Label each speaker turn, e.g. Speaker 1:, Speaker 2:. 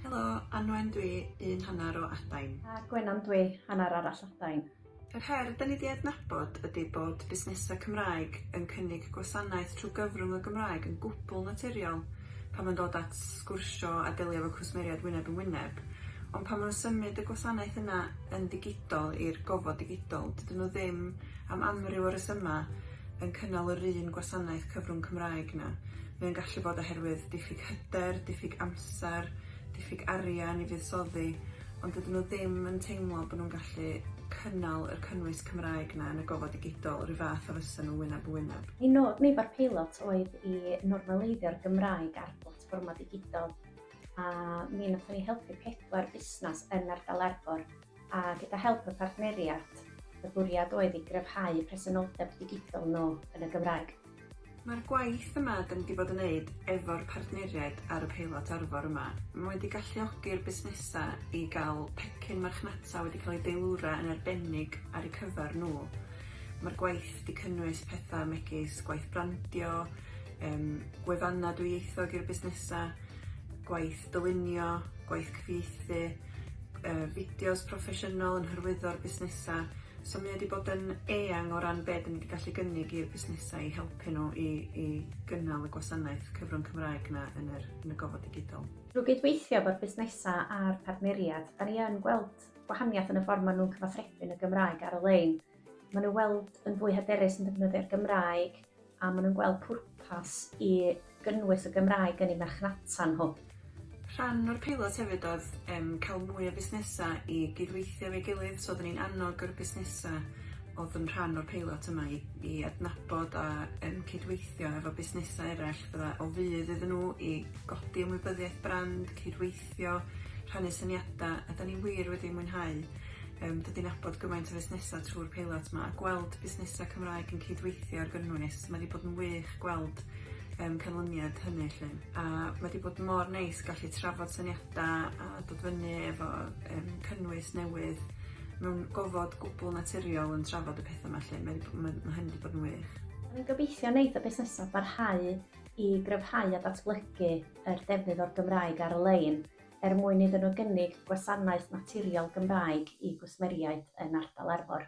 Speaker 1: Helo, Anwen dwi, un hanner o Adain. A Gwenan dwi, hanner arall Adain. Yr her 'da ni 'di adnabod ydi bod busnesau Cymraeg yn cynnig gwasanaeth trwy gyfrwng y Gymraeg yn gwbl naturiol pan mae'n dod at sgwrsio a delio efo cwsmeriaid wyneb yn wyneb, ond pan maen nhw'n symud y gwasanaeth yna yn ddigidol i'r gofod digidol, dydyn nhw ddim, am amryw o resymau, yn cynnal yr un gwasanaeth cyfrwng Cymraeg 'na. Mae o'n gallu bod oherwydd diffyg hyder, diffyg amser, diffyg arian i fuddsoddi, ond dydyn nhw ddim yn teimlo bo' nhw'n gallu cynnal yr cynnwys Cymraeg 'na yn y gofod digidol 'ru' fath a fysa nhw wyneb yn wyneb. Ein nod ni efo'r peilot oedd i normaleiddio'r Gymraeg ar blatfformau digidol, a mi nathon ni helpu pedwar busnas yn ardal Arfor a gyda help y partneriad, y bwriad oedd i gryfhau presenoldeb digidol nhw yn y Gymraeg. Mae'r gwaith yma da ni wedi bod yn wneud efo'r partneriaid ar y peilot Arfor yma, mae wedi galluogi'r busnesau i gael pecyn marchnata wedi cael ei deilwra yn arbennig ar eu cyfer nhw. Mae'r gwaith wedi cynnwys pethau megis gwaith brandio, um, gwefannau dwyieithog i'r busnesau, gwaith dylunio, gwaith cyfieithu, uh, fideos proffesiynol yn hyrwyddo'r busnesau. So mae wedi bod yn eang o ran beth ni wedi gallu gynnig i'r busnesau i helpu nhw i, i gynnal y gwasanaeth cyfrwng Cymraeg yna yn, yr, yn y gofod digidol. Drwy gydweithio efo'r busnesau a'r partneriad, da ni yn gweld gwahaniaeth yn y ffordd maen nhw'n cyfathrebu yn y Gymraeg ar y lein. Maen nhw weld yn fwy hyderus yn defnyddio'r Gymraeg a maen nhw'n gweld pwrpas i gynnwys y Gymraeg yn ei marchnata nhw. Rhan o'r peilot hefyd oedd um, cael mwy o busnesau i gydweithio efo'i gilydd, so oeddwn ni'n annog yr busnesau oedd yn rhan o'r peilot yma i, i adnabod a um, cydweithio efo busnesau eraill fydda o fydd iddyn nhw i godi ymwybyddiaeth brand, cydweithio gobeithio rhannu syniada a 'dan ni wir wedi mwynhau yym dod i nabod gymaint o fusnesa trw'r peilot 'ma a gweld busnesa Cymraeg yn cydweithio ar gynnwys ma' 'di bod yn wych gweld yym canlyniad hynny 'lly a ma' 'di bod mor neis gallu trafod syniada a dod fyny efo yym cynnwys newydd mewn gofod gwbwl naturiol yn trafod y petha 'ma 'lly mae 'di ma' ma' hyn 'di bod yn wych. Rwy'n gobeithio wneith y busnesau barhau i gryfhau a datblygu yr defnydd o'r Gymraeg ar-lein er mwyn iddyn nhw gynnig gwasanaeth naturiol Gymraeg i gwsmeriaid yn ardal Arfor.